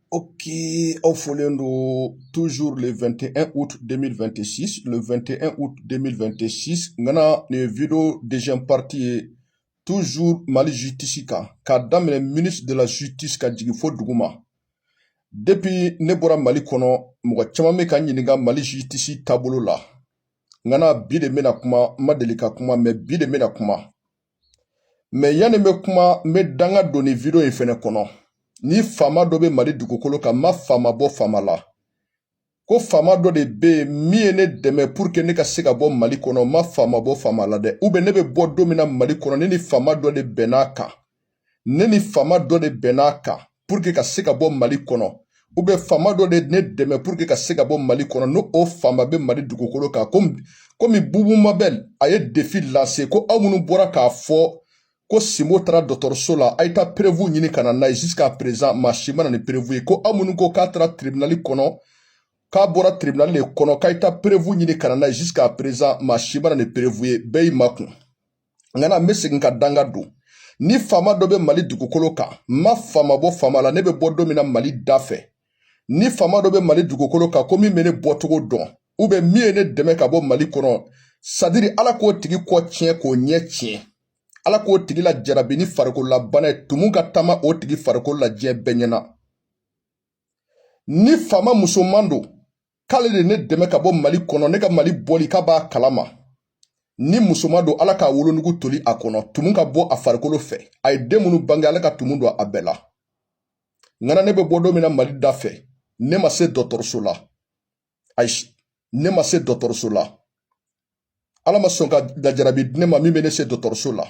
O que aw fɔlen don tzo 2te u denmisɛn2si 2te u denmisɛn2si n nin v dezsɛnpriti ye tuzo malizutisi kan ka daminɛ mini delasusitisi ka jigin fo dugu ma depi ne bɔra mali kɔnɔ mɔgɔ caman min ka ɲininka malizutisi taabolo la n bi de bɛna kuma ma deli ka kuma mɛ bi de bɛna kuma mɛ yanni n bɛ kuma n bɛ danga don nin video in fɛnɛ kɔnɔ ni faama dɔ bɛ mali dugukolo kan n ma faama bɔ faama la ko faama dɔ de bɛ yen min ye ne dɛmɛ pour que ne ka se ka bɔ mali kɔnɔ n ma faama bɔ faama la dɛ ou bien ne bɛ bɔ don min na mali kɔnɔ ne ni faama dɔ de bɛnn'a kan ne ni faama dɔ de bɛnn'a kan pour que ka se ka bɔ mali kɔnɔ ou bien faama dɔ de ne dɛmɛ pour que ka se ka bɔ mali kɔnɔ n'o faama bɛ mali dugukolo kan komi komi bubu mabɛl a ye defi lase ko aw minnu bɔra k'a fɔ ko sinbo taara dɔgɔtɔrɔso la a ye taa perevu ɲini ka na n'a ye jusqu'à présent maa si ma na ni perevu ye ko aw minnu ko k'a taara tribunali kɔnɔ k'a bɔra tribunali de kɔnɔ k'a ye taa perevu ɲini ka na n'a ye jusqu'à présent maa si ma na ni perevu ye bɛɛ y'i makun Ŋana n bɛ segin ka danga don ni faama dɔ bɛ mali dugukolo kan n ma faama bɔ faama la ne bɛ bɔ don min na mali da fɛ ni faama dɔ bɛ mali dugukolo kan ko min bɛ ne bɔcogo dɔn ou bien min ye ne dɛmɛ ka bɔ mali kɔnɔ c'est-à-dire ala k'o tigi kɔ tiɲɛ k'o ɲɛ tiɲɛ ala k'o tigi lajarabi ni farikolola bana ye tumu ka taama o tigi farikolo la diɲɛ bɛɛ ɲɛ na ni faama musoman don k'ale de ne dɛmɛ ka bɔ mali kɔnɔ ne ka mali bɔli k'a b'a kalama ni musoman don ala k'a wolonugu toli a kɔnɔ tumu ka bɔ a farikolo fɛ a ye den minnu bange ala ka tumu don a bɛɛ la ŋana ne bɛ bɔ don min na mali da fɛ ne ma se dɔgɔtɔrɔso la ayi ne ma se dɔgɔtɔrɔso la ala ma sɔn ka lajarabi di ne ma min bɛ ne se dɔgɔtɔrɔso la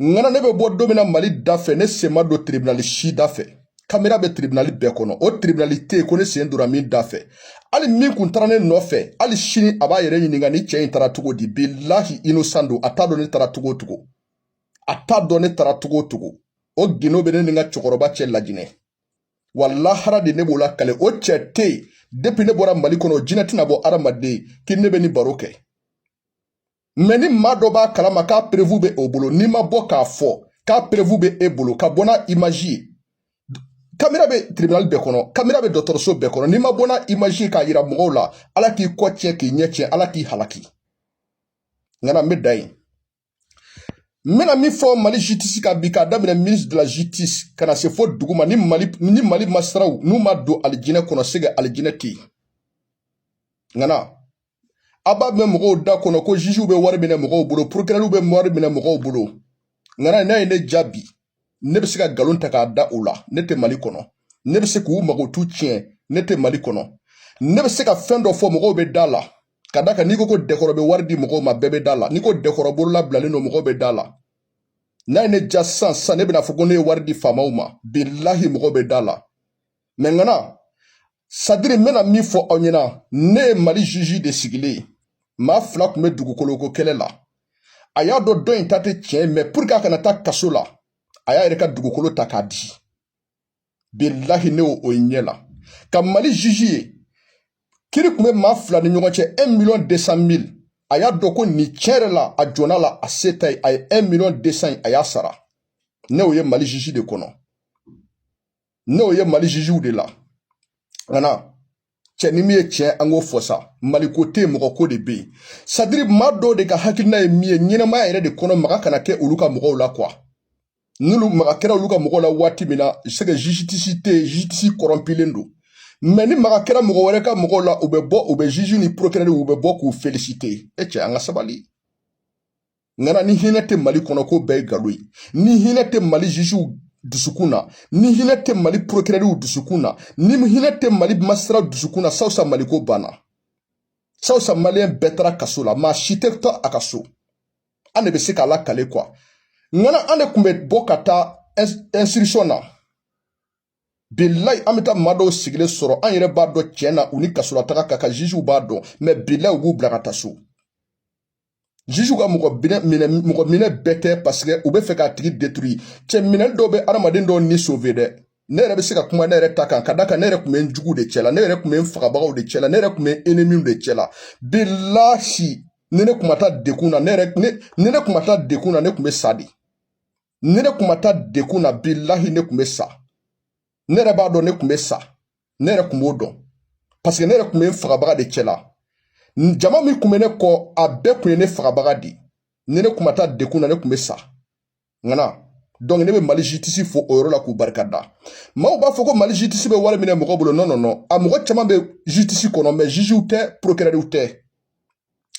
ŋana ne bɛ bɔ don min na mali da fɛ ne sen ma don tiribinali si da fɛ kamera bɛ tiribinali bɛɛ kɔnɔ o tiribinali tɛ yen ko ne sen donna min da fɛ hali min kun taara ne nɔfɛ hali sini a b'a yɛrɛ ɲininka nin cɛ in taara cogo di bilahi innocent don a t'a dɔn ne taara cogo o cogo a t'a dɔn ne taara cogo o cogo o gindo bɛ ne ni n ka cɛkɔrɔba cɛ lajinɛ wa lahara de ne b'o lakali o cɛ tɛ yen depi ne bɔra mali kɔnɔ jinɛ tɛna bɔ adamaden k'i ne bɛ ni baro kɛ mɛ ni maa dɔ b'a kalama k'a perewu bɛ o bolo n'i ma bɔ k'a fɔ k'a perewu bɛ e bolo ka bɔ n'a imaji ye kamera bɛ tribunal bɛɛ kɔnɔ kamera bɛ dɔgɔtɔrɔso bɛɛ kɔnɔ n'i ma bɔ n'a imaji ye k'a yira mɔgɔw la ala k'i kɔ tiɲɛ k'i ɲɛ tiɲɛ ala k'i halaki ŋana n bɛ dan yen n bɛna min fɔ mali justice kan bi k'a daminɛ ministre de la justice ka na se fo duguma ni mali magistratw n'u ma don alijinɛ kɔnɔ c'est que alijinɛ tɛ yen ŋana a b'a mɛn mɔgɔw da kɔnɔ ko jugew bɛ wari minɛ mɔgɔw bolo porokirɛliw bɛ wari minɛ mɔgɔw bolo ŋana n'a ye ne jaabi ne bɛ se ka galon ta k'a da u la ne tɛ mali kɔnɔ ne bɛ se k'u mankutu tiɲɛ ne tɛ mali kɔnɔ ne bɛ se ka fɛn dɔ fɔ mɔgɔw bɛ da la ka da kan n'i ko ko dɛkɔrɔ bɛ wari di mɔgɔw ma bɛɛ bɛ da la n'i ko dɛkɔrɔ bolola bilalen don mɔgɔw bɛ da la n'a ye ne ja sisan ne bɛna fɔ ko ne ye wari di faamaw ma bilahi mɔgɔw bɛ da la mais ŋana c'est-à-dire n bɛna min fɔ aw ɲɛna ne ye mali juge de sigilen ye maa fila tun bɛ dugukoloko kɛlɛ la a y'a dɔn dɔ in ta tɛ tiɲɛ mais pour que a kana taa kaso la a y'a yɛrɛ ka dugukolo ta k'a di bilahi ne o ye ɲɛ la ka mali juge ye kiri tun bɛ maa fila ni ɲɔgɔn cɛ 1 million 200 mille a y'a dɔn ko nin tiɲɛ yɛrɛ la a jɔnna la a se ta ye a ye 1 million 200 a y'a sara ne o ye mali juge de kɔnɔ ne o ye mali jugew de la ŋana cɛ ni min ye tiɲɛ an k'o fɔ sa mali ko tɛ yen mɔgɔ ko de bɛ yen c'est-à-dire maa dɔw de ka hakilina ye min ye ɲɛnamaya yɛrɛ de kɔnɔ maga kana kɛ olu ka mɔgɔw la quoi n'olu maga kɛra olu ka mɔgɔw la waati min na c'est que justice tɛ yen justice corrompulen don mais ni maga kɛra mɔgɔ wɛrɛ ka mɔgɔw la u bɛ bɔ u bɛ juge ni procureur u bɛ bɔ k'u féliciter e cɛ an ka sabali ŋana ni hinɛ tɛ mali kɔnɔ ko bɛɛ ye galo ye ni hinɛ tɛ mali jugew dusukun na ni hinɛ tɛ mali procureurw dusukun na ni hinɛ tɛ mali magistrat dusukun na sawusa mali ko banna sawusa malien bɛɛ taara kaso la maa si tɛ to a ka so an de bɛ se k'a lakale quoi ŋana an de tun bɛ bɔ ka taa instruction na bilayi an bɛ taa maa dɔw sigilen sɔrɔ an yɛrɛ b'a dɔn tiɲɛ na u ni kasolataga ka kan jugew b'a dɔn mais bilayi u b'u bila ka taa so juge ka mɔgɔ mɔgɔ minɛ bɛɛ tɛ parce que u bɛ fɛ k'a tigi détruire cɛ minɛ dɔw bɛ adamaden dɔw ni sauver dɛ ne yɛrɛ bɛ se ka kuma ne yɛrɛ ta kan ka d'a kan ne yɛrɛ tun bɛ n juguw de cɛla ne yɛrɛ tun bɛ n fagabagaw de cɛla ne yɛrɛ tun bɛ n ennemiw de cɛla bilahi ni ne tun ma taa dekun na ni ne tun ma taa dekun na ne tun bɛ sa de ni ne kun ma taa dekun na bilahi ne kun bɛ sa ne yɛrɛ b'a dɔn ne kun bɛ sa ne yɛrɛ kun b'o dɔn parce que ne yɛrɛ kun bɛ n fagabaga de cɛla jama min kun bɛ ne kɔ a bɛɛ kun ye ne fagabaga de ni ne kun ma taa dekun na ne kun bɛ sa ŋana donc ne bɛ mali justice fo o yɔrɔ la k'u barika da maaw b'a fɔ ko mali justice bɛ wari minɛ mɔgɔ bolo non non non a mɔgɔ caman bɛ justice kɔnɔ mais jugew tɛ procureurw tɛ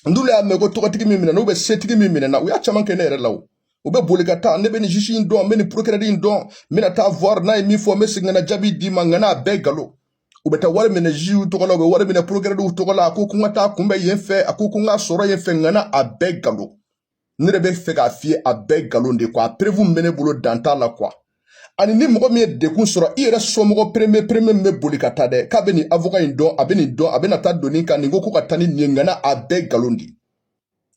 n'olu y'a mɛn ko tɔgɔtigi min minɛna ou bien setigi min minɛna u y'a caman kɛ ne yɛrɛ la o u bɛ boli ka taa ne bɛ nin juge in dɔn n bɛ nin procureur in dɔn n bɛna taa voir n'a ye min fɔ n bɛ segin ka na jaabi d'i ma ŋana a bɛɛ galo u bɛ taa wari minɛ jugew tɔgɔ la u bɛ wari minɛ procureurw tɔgɔ la a ko ko n ka taa kunbɛn yen fɛ a ko ko n ka sɔrɔ yen fɛ ŋana a bɛɛ galo ne de bɛ fɛ k'a f'i ye a bɛɛ nkalon de quoi a preuve min bɛ ne bolo dan t'a la quoi ani ni mɔgɔ min ye dekun sɔrɔ i yɛrɛ somɔgɔ premier premier min bɛ boli ka taa dɛ k'a bɛ nin avocat in dɔn a bɛ nin dɔn a bɛna taa don nin kan nin ko ko ka taa ni nin ye ŋana a bɛɛ nkalon de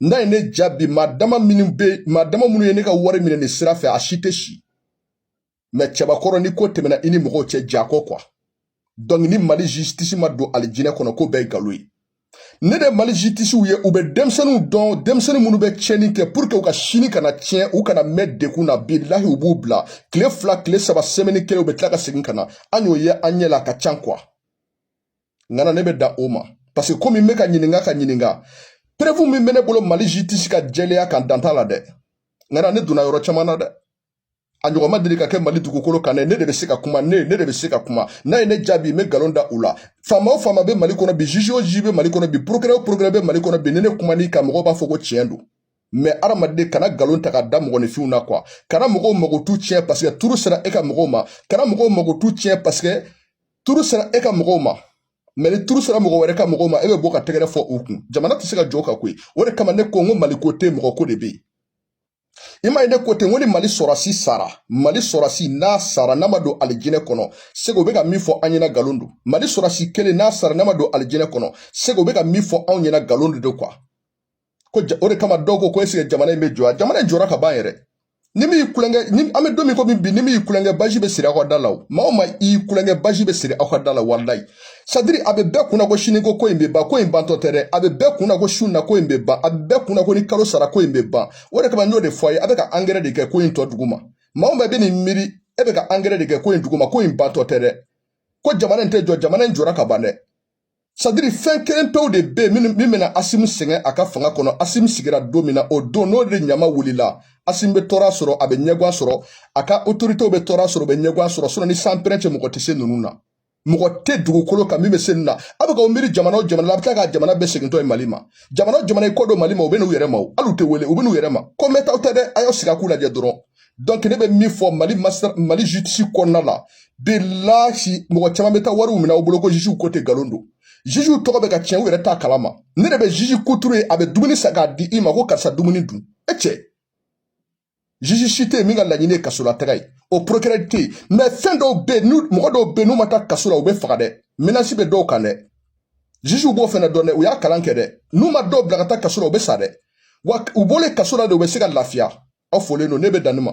n'a ye ne jaabi maa dama minnu bɛ maa dama minnu ye ne ka wari minɛ nin sira fɛ a si tɛ si mais cɛbakɔrɔ ni ko tɛmɛna i ni mɔgɔw cɛ jako quoi donc ni mali justice ma don alijinɛ kɔnɔ ko bɛɛ ye nkalon ye ne de mali justicew ye u bɛ denmisɛnninw dɔn denmisɛnnin minnu bɛ tiɲɛni kɛ pour que u ka sini kana tiɲɛ u kana mɛn dekun na bilahi u b'u bila tile fila tile saba semaine kelen u bɛ tila ka segin ka na an y'o ye an ɲɛ la a ka can quoi ŋana ne bɛ dan o ma parce que komi n bɛ ka ɲininka ka ɲininka preuve min bɛ ne bolo mali justice ka jɛlenya kan dan t'a la dɛ ŋana ne donna yɔrɔ caman na dɛ a ɲɔgɔn ma deli ka kɛ mali dugukolo kan ne de bɛ se ka kuma ne ne de bɛ se ka kuma n'a ye ne jaabi n bɛ nkalon da u la faama o faama bɛ mali kɔnɔ bi juge o juge bɛ mali kɔnɔ bi procureur o procureur bɛ mali kɔnɔ bi ni ne kuman'i kan mɔgɔw b'a fɔ ko tiɲɛ don mais adamaden kana nkalon ta ka da mɔgɔninfinw na quoi kana mɔgɔw mankutu tiɲɛ parce que tour sera e ka mɔgɔw ma kana mɔgɔw mankutu tiɲɛ parce que tour sera e ka mɔgɔw ma mais ni tour sera mɔgɔ wɛrɛ ka mɔgɔw ma e bɛ bɔ ka tɛgɛrɛ fɔ u kun jamana tɛ se ka jɔ ka koyi o de kama ne ko n ko maliko tɛ mɔgɔko de bɛ yen i ma ye ne ko ten ko ni mali sɔrɔsi sara mali sɔrɔsi n'a sara n'a ma don alijinɛ kɔnɔ segu bɛ ka min fɔ an ɲɛna nkalon don mali sɔrɔsi kelen n'a sara n'a ma don alijinɛ kɔnɔ segu bɛ ka min fɔ anw ɲɛna nkalon de don quoi ko o de kama dɔw ko ko est-ce que jamana in bɛ jɔ a jamana in jɔra ka ban yɛrɛ ni min y'i kulonkɛ ni an bɛ don min ko bi ni min y'i kulonkɛ baji bɛ siri aw ka da la o maa o maa y'i kulonkɛ baji bɛ siri aw ka da la walilayi c'est-à-dire a bɛ bɛɛ kunna ko sini ko ko in bɛ ban ko in bantɔ tɛ dɛ a bɛ bɛɛ kunna ko su in na ko in bɛ ban a bɛ bɛɛ kunna ko ni kalo sara ko in bɛ ban o de kama n y'o de fɔ a ye a bɛ ka angɛrɛ de kɛ ko in tɔ duguma maa min bɛɛ bɛ nin miiri e bɛ ka angɛrɛ de kɛ ko in duguma ko in bantɔ tɛ dɛ ko jamana in tɛ jɔ jamana in jɔra ka ban dɛ c'est-à-dire fɛn kelen pewu de bɛ yen min bɛna asimi sɛgɛn a ka fanga kɔnɔ asimi sigira don min na o don n'o de ɲama wulila asimi bɛ tɔɔrɔ sɔrɔ a bɛ ɲɛgwan sɔrɔ a ka autoritéw bɛ tɔɔrɔ sɔrɔ u bɛ ɲɛgwan sɔrɔ sinon ni sanpɛrɛn tɛ mɔgɔ tɛ se ninnu na mɔgɔ tɛ dugukolo kan min bɛ se nin na a bɛ ka o miiri jamana o jamana la a bɛ tila ka jamana bɛɛ segintɔ ye mali ma jamana o jamana y'i kɔ don mali ma u bɛ n'u yɛrɛ ma o hali u tɛ wele u bɛ n'u yɛrɛ ma ko mɛntɔ tɛ dɛ a y'aw sigi a k'u lajɛ dɔrɔn donc ne bɛ min fɔ mali masa mali justice kɔnɔna la bilahi mɔgɔ caman bɛ taa wariw minɛ aw bolo ko jugew ko tɛ nkalon don jugew tɔgɔ bɛ ka tiɲɛ u yɛrɛ t'a kalama ne de bɛ juge kuturu ye a bɛ dumuni san k'a di i ma ko karisa dumuni dun e cɛ juge si tɛ yen min ka laɲini ye kasolataga ye o procureur tɛ yen mais fɛn dɔw bɛ yen mɔgɔ dɔw bɛ yen n'u ma taa kaso la u bɛ faga dɛ menace bɛ dɔw kan dɛ juge b'o fana dɔn dɛ u y'a kalan kɛ dɛ n'u ma dɔw bila ka taa kaso la u bɛ sa dɛ wa u bɔlen kaso la de u bɛ se ka lafiya aw folen don ne bɛ dan nin ma